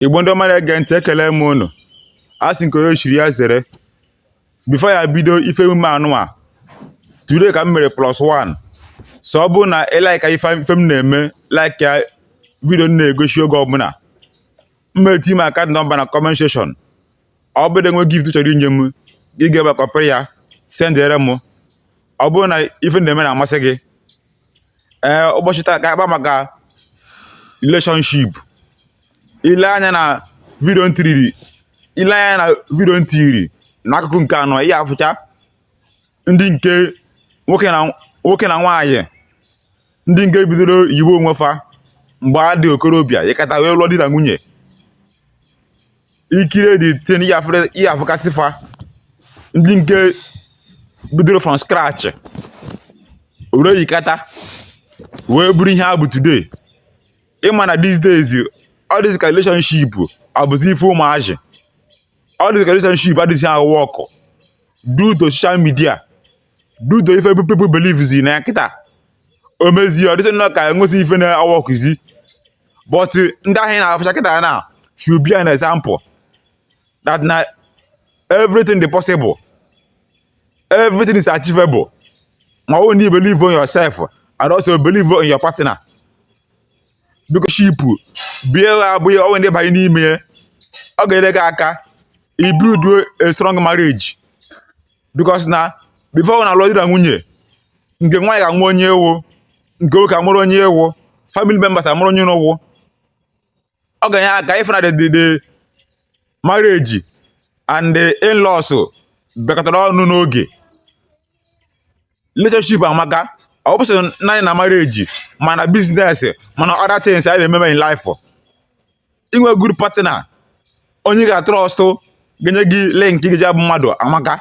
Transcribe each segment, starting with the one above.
igbo ndị ọma na-ege ntị ekele m unu a sị nke onye chiri ya zere before ya bido ife emume a nụnwa today ka m mere plus one so ọ bụrụ na ị like ife m na-eme like ya video m na-egosi oge ọbụla m eti m account number na comment section ọ bụrụ na ị nwee gift ị chọrọ inye m gị gaa ebe a kọpịrị ya sendere m ọ bụrụ na ife m na-eme na-amasị gị ee ụbọchị taa ka a kpaa maka relationship ị lee anya na video m tiri n'akụkụ nke anọ ị ya-afụcha ndị nke nwoke na nwaanyị ndị nke bidoro yiwe onwe fa mgbe fa dị okorobịa yikata wee lụọ di na nwunye ị kirie the thing ị ya-afụkasị fa ndị nke bidoro from scratch were yikata wee bụrụ ihe ha bụ today ị ma na these days ọ dịzị ka relationship abụzi ife ụmụazị ọ dịzị ka relationship adịzịghị awork due to social media due to ife people believe zi na ya kịta o mezie ọ dịzị nnọọ ka enwezi ife na-aworkzi but ndị ahụ ị na-afụcha kịta na should be an example that na everything dị possible everything is achievable ma ọ bụrụ na ị believe in yourself and also believe in your partner biko shipu bie abụghị ọnwe ndị banye n'ime ya ọ ga-enyere gị aka ibuild a strong marriage because na before na a lụọ di na nwunye nke nwaanyị ga-ama onye ị wụ nke nwoke amarụ onye ị wụ family members amarụ onye unu wụ ọ ga-enye aka ịfụ na the the- the marriage and the in-laws bịakọtara ọnụ n'oge relationship amaka ọ bụsị naanị na marriage ma na business ma na other things anyị na-ememe in life inwe good partner onye ị ga-atrust ga-enye gị link ị ga-eji abụ mmadụ amaka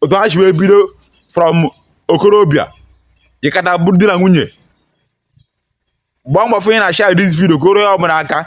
otu ha si wee bido from okorobịa yikata bụrụ di na nwunye gbaa mbọ fụ na ị share this video ka o ruo onye ọbụla aka